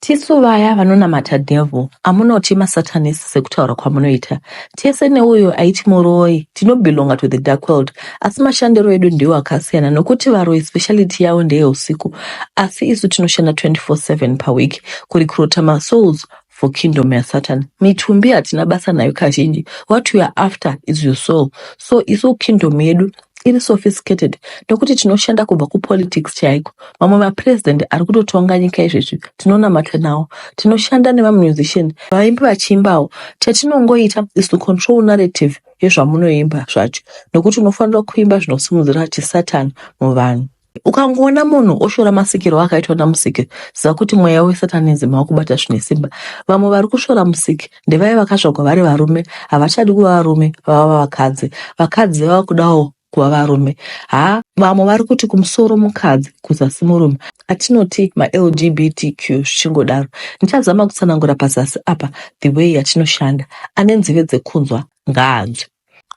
Tisu vaya vanonamata devil amunoti masatanist sekutaura kwamunoita tese neuyo aiti muroyi tinobelonga to the dark world asi mashandiro edu ndiwo akasiyana nokuti varoyi speciality yavo ndeyeusiku asi isu tinoshanda 24/7 paweek kurecruita masouls for kingdom yasatan mitumbi hatina basa nayo kazhinji what we are after is your soul so isu kingdom yedu iri sophisticated nokuti tinoshanda kubva kupolitics chaiko mamwe mapresident ari kutotonga nyika izvezvi tinonamata nawo tinoshanda nemamusician vaimbi vachiimbawo chatinongoita is to control narrative yezvamunoimba zvacho nokuti unofanira kuimba zvinosimudzira chisatan muvanhu Ukangoona munhu oshora masikirwo akaitwa naMusiki, ziva kuti mweya weSatanism wakubata zvine simba. Vamwe vari kushora Musiki ndevaya vakazvagwa vari varume, havachadi kuva varume, vava vakadzi. Vakadzi vava kudawo kuva varume. Haa, vamwe vari kuti kumusoro mukadzi, kuzasi murume. Atinoti maLGBTQ zvichingodaro. Ndichazama kutsanangura pazasi apa the way yatinoshanda. Ane nzeve dzekunzwa, ngaanzwe.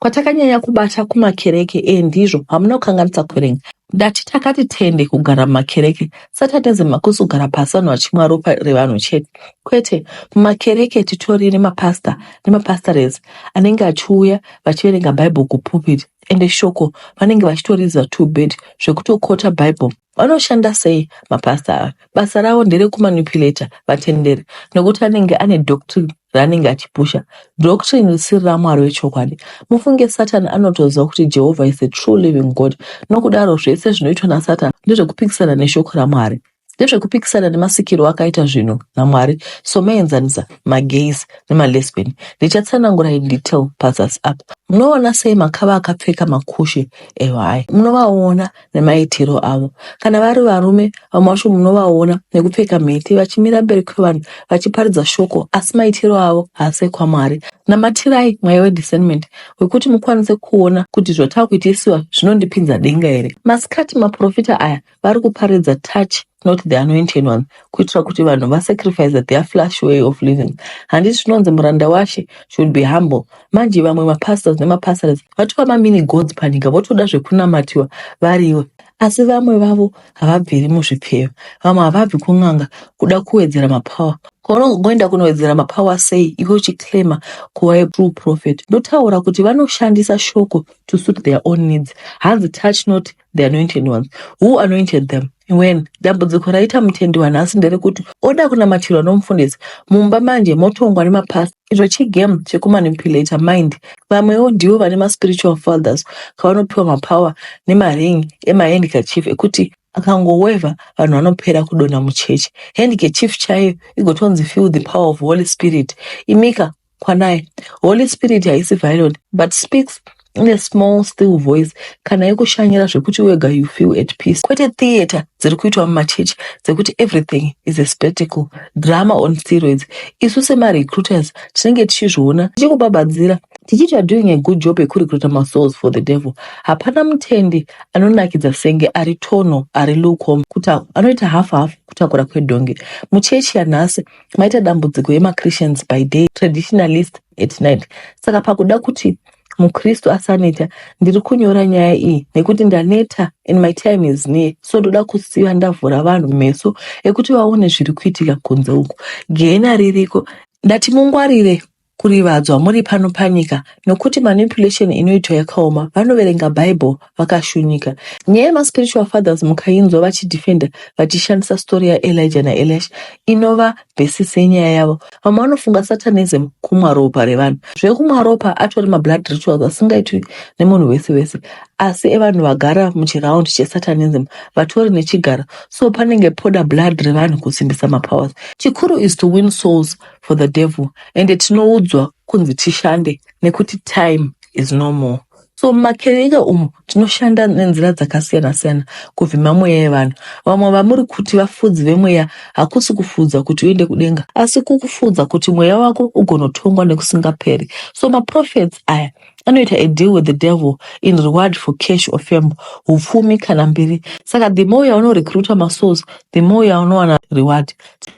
Kwatakanyanya kubata kumakereke ee ndizvo hamuna kukanganisa kuverenga. Ndati takati tende kugara mumakereke Saturday dzemakusi kugara pasi vanhu vachimwa ropa revanhu chete kwete mumakereke titori nemapastor nemapastores anenge achiuya vachiverenga bible kupulpit ende shoko vanenge vachitoriziva too bad zvekutokota bible Vanoshanda sei mapastor ava? Basa ravo nderekumanipulator vatenderi nokuti anenge ane doctrine raanenge achipusha, doctrine risiri raMwari wechokwadi. Mufunge Satan anotoziva kuti Jehovha is a true living God, nokudaro zvese zvinoitwa naSatan ndezvekupikisana neshoko raMwari. Ndezvekupikisana nemasikirwo akaita zvinhu naMwari, so meenzanisa magays nemalesbian. Ndichatsanangura in detail pazasi apa. Munoona sei makava akapfeka makushe ehwai? Munovaona nemaitiro avo. Kana vari varume, vamwe vacho munovaona nekupfeka mhete vachimira mberi kwevanhu vachiparidza shoko, asi maitiro avo haasi ekwaMwari. Namatirai mweya wediscernment wekuti mukwanise kuona kuti zvatava kuitisiwa zvinondipinza denga here. Masikati maporofita aya vari kuparidza touch not the anointed one kuitira kuti vanhu vasacrifice their flash way of living handiti zvinonzi muranda washe should be humble manje vamwe mapastors nemapastors vatova mamini gods panyika votoda zvekunamatiwa variwe asi vamwe vavo havabviri muzvipfeyo vamwe havabvi kun'anga kuda kuwedzera mapower kwaunongoenda kunowedzera mapower sei iwe uchiclaima kuva a true prophet ndotaura kuti vanoshandisa shoko to suit their own needs hanzi touch not the anointed ones who anointed them when dambudziko raita mutendi wanhasi nderekuti oda kunamatirwa nomufundisi mumba manje motongwa nemapasta icho chigame chekumanipulator mind vamwewo ndivo vane maspiritual fathers kavanopiwa mapower nemaring emahandkerchief ekuti akangoweva vanhu vanopera kudonha muchechi handkerchief chaiyo igotonzi feel the power of holy spirit imika Kwanai, Holy Spirit haisi violent but speaks in a small still voice kana yekushanyira zvekuti wega you feel at peace kwete theatre dziri kuitwa mumachechi dzekuti everything is a spectacle drama on steroids isu semarecruiters tinenge tichizviona tichikubabadzira tichiti are doing a good job yekurecruita masouls for the devil hapana mutendi anonakidza senge ari tono ari lucom kutaura anoita half half kutakura kwedhongi muchechi yanhasi maita dambudziko yemachristians by day traditionalist at night saka pakuda kuti mukristu asaneta ndiri kunyora nyaya iyi nekuti ndaneta and my time is near so ndoda kusiya ndavhura vanhu meso ekuti vaone zviri kuitika kunze uku gehena ririko ndati mungwarire kurivadzwa muri pano panyika nokuti manipulation inoitwa yakaoma vanoverenga bible vakashunyika nyaya yemaspiritual fathers mukainzwa vachidefenda vachishandisa story yaelija naeliash inova basis yenyaya yavo vamwe vanofunga satanism kumwa ropa revanhu zvekumwa ropa atori mablood rituals asingaitwi nemunhu wese wese asi evanhu vagara muchiround chesatanism vatori nechigaro so panenge poda blood revanhu kusimbisa mapowers chikuru is to win souls for the devil ende tinoudzwa kunzi tishande nekuti time is no more so mumakereke umu tinoshanda nenzira dzakasiyana siyana kuvhima mweya yevanhu vamwe vamuri kuti vafudzi vemweya hakusi kufudza kuti uende kudenga asi kukufudza kuti mweya wako ugonotongwa nekusingaperi so maprofets aya anoita a deal with the devil in reward for cash or fame hupfumi kana mbiri saka the more yaunorecruita masouls the more yaunowana reward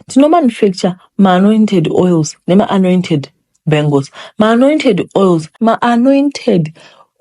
tinomanufacture maanointed oils nemaanointed bangles maanointed oils maanointed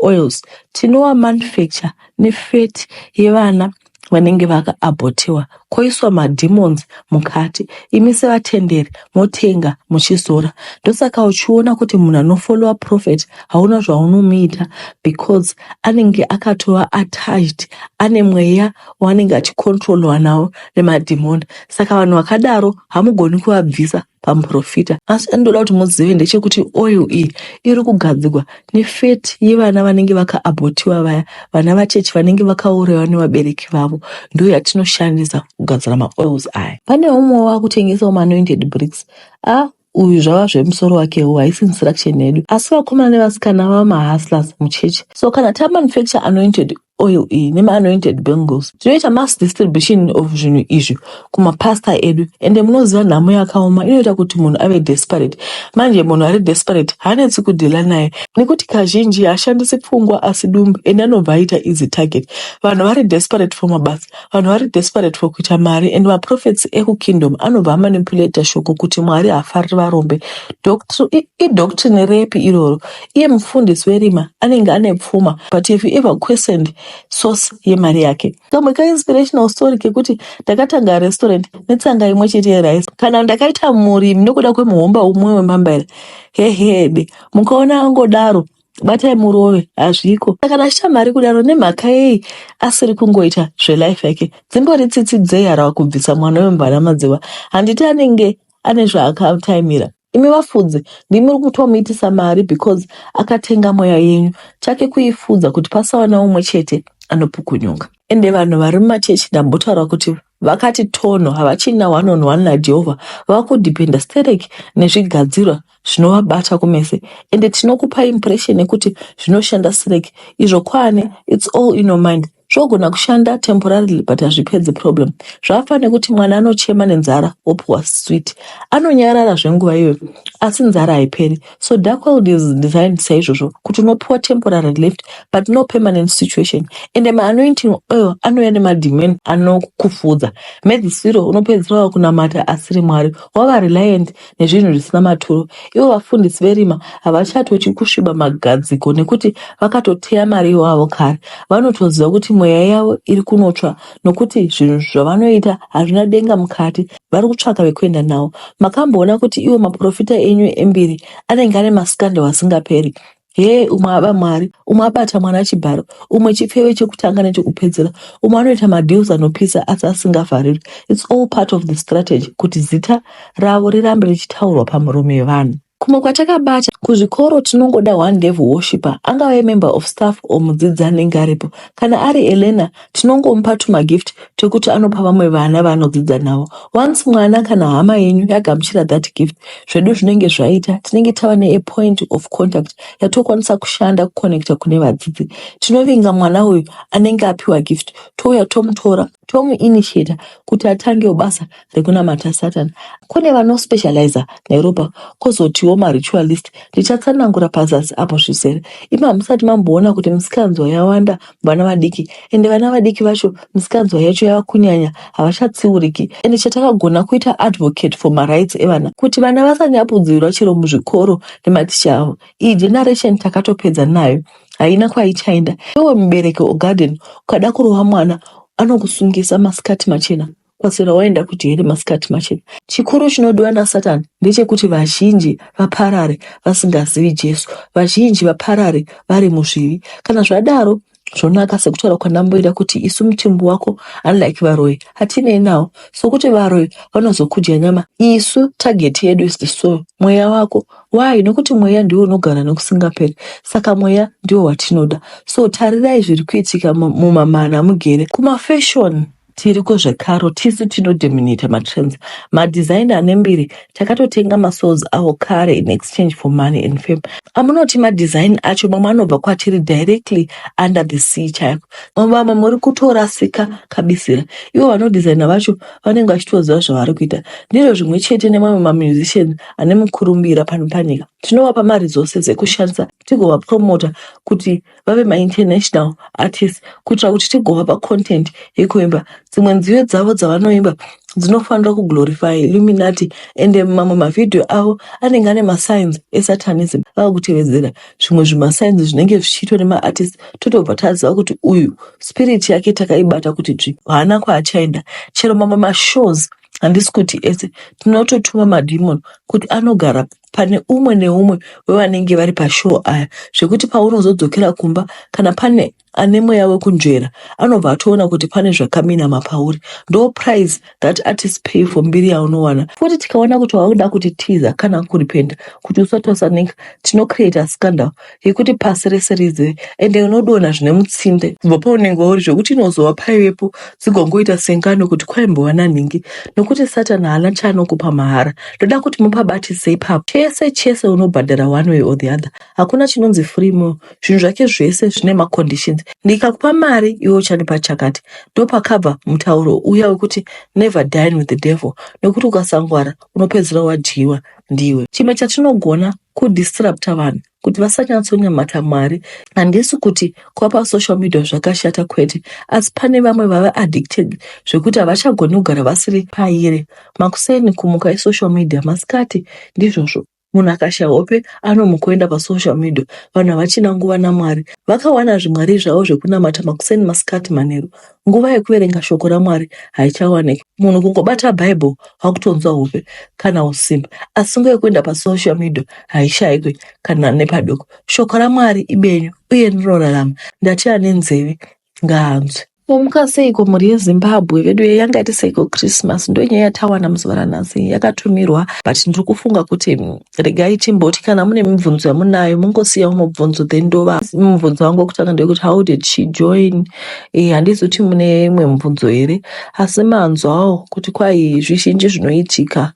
oils tinoamanufacture nefeti yevana vanenge vakaabhotiwa koiswa mademons mukati imi sevatenderi motenga muchizora ndosaka uchiona kuti munhu anofollowa prophet hauna zvaunomuita because anenge akatova attached ane mweya waanenge achicontrolwa nawo nemadhimoni saka vanhu vakadaro hamugoni kuvabvisa pamuporofita asi chandinoda kuti muzive ndechekuti oil iyi iri kugadzirwa nefeti yevana vanenge vakaabhotiwa vaya vana vachechi vanenge vakaurayiwa nevabereki vavo ndiyo yatinoshandisa kugadzira maoils aya pane umwe wakutengesawo maanointed bricks a uyu zvava zvemusoro wakewo haisi instruction yedu asi vakomana nevasikana vava mahustlers muchechi so kana tamanufacture anointed oil iyi nemaanointed bangles tinoita mass distribution of zvinhu izvi kumapastor edu ende munoziva nhamo yakaoma inoita kuti munhu ave desperate manje munhu ari desperate haanetsi kudhila naye nekuti kazhinji haashandisi pfungwa asi dumbu ende anobva aita easy target vanhu vari desperate for mabasa vanhu vari desperate for kuita mari and maprofets ekukingdom anobva amanipulata shoko kuti mwari haafariri varombe Doctr- i- idoctrine repi iroro Iye mufundisi werima anenge ane pfuma but if you ever questioned source yemari yake. Kamwe ka inspirational story kekuti ndakatanga restaurant netsanga imwe chete yerice kana ndakaita murimi nekuda kwemuhomba umwe wemambaira hehede mukaona angodaro batai murove hazviko saka nashita mari kudaro nemhaka yei asiri kungoita zvelife yake dzimbori tsitsi dzei harava kubvisa mwana wemvana madziva handiti anenge ane zvaakataimira Imi vafudzi ndimi muri kutomuitisa mari because akatenga mweya yenyu. Chake kuifudza kuti pasava naumwe chete anopukunyuka. Ende vanhu vari mumachechi ndambotaura kuti vakati tono havachina one on one naJehovha vakudependa sterek nezvigadzirwa zvinovabata kumese ende tinokupa impression yekuti zvinoshanda sterek izvo kwaane it's all in your mind Zvogona kushanda temporarily but hazvipedzi problem. Zvakafa nekuti mwana anochema nenzara wopuwa sweet. Anonyarara zvenguva iyoyo asi nzara haiperi. So dark world is designed saizvozvo kuti unopuwa temporary lift but no permanent situation. Ende maanointing oil anouya nemademon anokufudza. Mhedzisiro unopedzisira wakunamata asiri Mwari. Wava reliant nezvinhu zvisina maturo. Ivo vafundisi verima havachatotyi kusviba magadziko nekuti vakatoteya mari iwavo kare. Vanotoziva kuti mweya yavo iri kunotsva nokuti zvinhu zvavanoita hazvina denga mukati. Vari kutsvaka vekuenda navo. Makamboona kuti iwo maporofita enyu embiri anenge ane masikandau asingaperi? Hee umwe aba mari, umwe abata mwana chibharo, umwe chipfeve chekutanga nechekupedzera, umwe anoita madeals anopisa asi asingavharirwi. It's all part of the strategy kuti zita ravo rirambe richitaurwa pamuromo yevanhu. Kumwe kwatakabata kuzvikoro tinongoda one devil worshipper angave member of staff or mudzidzi anenge aripo. Kana ari a learner Tinongomupa tumagift twekuti anopa vamwe vana vaanodzidza navo. Once mwana kana hama yenyu yagamuchira that gift, zvedu zvinenge zvaita. Tinenge tava ne a point of contact yatokwanisa kushanda kuconnecta kune vadzidzi. Tinovinga mwana uyu anenge apiwa gift touya tomutora tomuinitiator kuti atangewo basa rekunamata Satan. Kune vanospecializer neropa kozotiwo maritualist. Ndichatsanangura pazasi apo zvizere. Imi hamusati mamboona kuti misikanzwa yawanda vana vadiki ende vana vadiki vacho misikanzwa yacho yava kunyanya havachatsiuriki ende chatakagona kuita advocate for marights evana kuti vana vasanyapudzirwa chero muzvikoro nematicha avo iyi generation takatopedza nayo haina kwaichaenda iwe mubereki ogarden ukada kurova mwana anokusungisa masikati machena Kwaswera waenda kuti here masikati machena? Chikuru chinodiwa naSatani ndechekuti vazhinji vaparare vasingazivi Jesu, vazhinji vaparare vari muzvivi. Kana zvadaro, zvonaka sekutaura kwanamboira kuti isu mutumbi wako unlike varoyi hatinei nawo sokuti varoyi vanozokudya nyama isu target yedu is the soul mweya wako why nokuti mweya ndiwo unogara nokusingaperi saka mweya ndiwo watinoda so tarirai zviri kuitika mumamana mugere kumafashoni Tiriko zvekaro tisu tino dominate matrends. Madesigner ane mbiri takatotenga masouls awo kare in exchange for money and fame. Amunoti madesign acho mamwe anobva kwatiri directly under the sea chaiko. Vamwe muri kutorasika kabisira. Ivo vanodesigner vacho vanenge vachitoziva zvavari kuita. Ndizvo zvimwe chete nemamwe mamusicians ane mukurumbira pano panyika. Tinovapa maresources ekushandisa tigovapromota kuti vave mainternational artists kuitira kuti tigovapa content yekuimba dzimwe nziyo dzavo dzavanoimba dzinofanira kuglorify illuminati ende mamwe mavhidhiyo avo anenge ane masigns esatanism ava kutevedzera zvimwe zvimasigns zvinenge zvichiitwa nemaartist totobva taziva kuti uyu spirit yake takaibata kuti dzvi haana kwaachaenda chero mamwe mashows handisi kuti ese tinototuma madhimoni kuti anogara pane umwe neumwe wevanenge vari pashoo aya zvekuti paunozodzokera kumba kana pane ane mweya wekunzvera anobva atoona kuti pane zvakaminama pauri ndo price that artist pay for mbiri yaunowana futi tikaona kuti wakuda kuti tiza kana kuripenda kuti usatosanika tinocreata scandal yekuti pasi rese rizive ende unodonha zvine mutsinde kubva paunenge wauri zvekuti inozova paivepo dzigongoita sengano kuti kwaimbova nanhingi nokuti satani haana chaanokupa mahara ndoda kuti mupabatise ipapo chese chese unobhadhara one way or the other hakuna chinonzi free mo zvinhu zvake zvese zvine maconditions ndikakupa mari iwe uchandipa chakati ndopakabva mutauro uya wekuti never dine with the devil nokuti ukasangwara unopedzisira wadyiwa ndiwe chimwe chatinogona kudisrupta vanhu kuti vasanyatsonyamata mwari handisi kuti kwapa social media zvakashata kwete asi pane vamwe vave addicted zvekuti havachagoni kugara vasiri pairi makuseni kumuka isocial media masikati ndizvozvo munhu akasha hope anomukuenda pasocial media vanhu havachina nguva namwari vakawana zvimwari zvavo zvekunamata makuseni masikati manheru nguva yekuverenga shoko ramwari haichawaniki munhu kungobata bible akutonzwa hope kana usimba asi nguva yekuenda pasocial media haishaikwe kana nepadoko shoko ramwari ibenyu uye rinorarama ndati ane nzeve ngaanzwe Momuka seiko mhuri yeZimbabwe vedu ye yanga iti seiko Christmas ndonyaya yatawana muzuva ranhasi yakatumirwa but ndiri kufunga kuti mm, regai timboti kana mune mibvunzo yamunayo mungosiyawo mubvunzo then ndova mubvunzo wangu wekutanga ndewekuti how did she join eh, handizi kuti mune imwe mubvunzo here asi manzwawo kuti kwai zvizhinji zvinoitika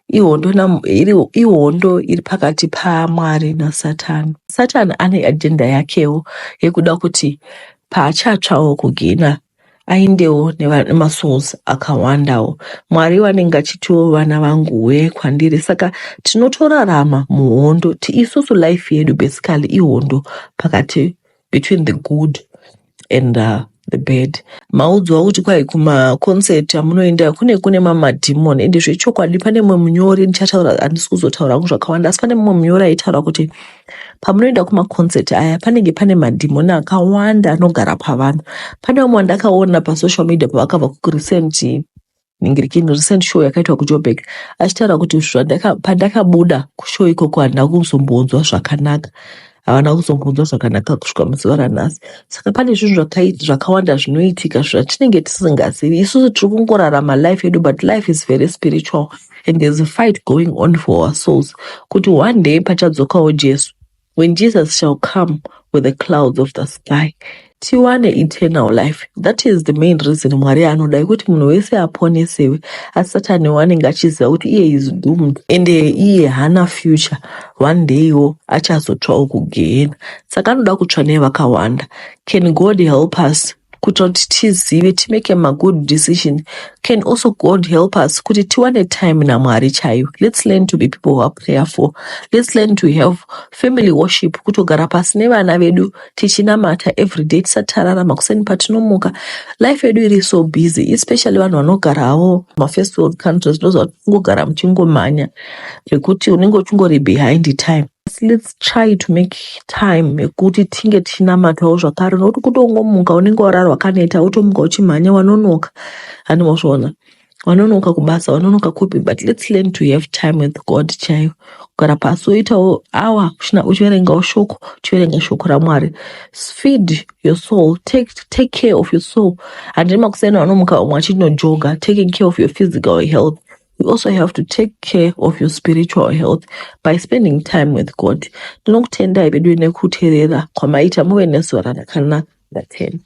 ihondo nam- iri- ihondo iri pakati pamwari nasatani satani ane ajenda yakewo yekuda kuti paachatsvawo kugina aindewo nemasouls akawandawo mwari vanenge achitiwo vana vangu wee kwandiri saka tinotorarama muhondo tiisusu life yedu basically ihondo pakati between the good and uh, the bad maudzwa kuti kwai kumaconcert amunoenda kune kune mamadhimon ende zvechokwadi pane mumwe munyori ndichataura handisi kuzotaura hangu zvakawanda asi pane mumwe munyori aitaura kuti pamunoenda kumaconcert aya panenge pane madhimoni akawanda anogara pavanhu pane vamwe vandakaona pasocial media pavakabva kurecent ningirikini recent show yakaitwa kujobek achitaura kuti pandakabuda kushow ikoko handina kuzombonzwa zvakanaka havana kuzombonzwa zvakanaka kusvika muzuva ranhasi saka pane zvinhu zvakawanda zvinoitika zvatinenge tisingazivi isusu tiri kungorarama life yedu but life is very spiritual and there's a fight going on for our souls kuti one day pachadzokawo jesu when jesus shall come with the clouds of the sky tiwane eternal life that is the main reason mwari anoda kuti munhu wese aponesewe asi satani wanenge achiziva kuti iye is doomed and iye hana future one day wo achazotsvawo kugehena saka anoda kutsva nevakawanda can god help us kutoti tizive timake magood decision can also god help us kuti tiwane time namwari chaiyo let's learn to be people who are prayerful let's learn to have family worship kutogara pasi nevana vedu tichinamata everyday tisatarara makuseni patinomuka life yedu iri so busy especially vanhu vanogara havo mafirst world countries ndozvatingogara muchingomhanya zvekuti unenge uchingori behind time let's try to make time yekuti tinge tichinamatawo zvakare nokuti kutongomuka unenge warara wakaneta wotomuka uchimhanya wanonoka hani mozviona wanonoka kubasa wanonoka kupi but let's learn to have time with god chaiyo kugara pasi woitawo awa uchina uchiverengawo shoko uchiverenga shoko ramwari S- feed your soul take, take care of your soul handiri makuseni wanomuka umwe achinojoga taking care of your physical health you also have to take care of your spiritual health by spending time with god ndinokutendai veduwe nekuterera kwamaita muve nezuva rakanaka ndathemba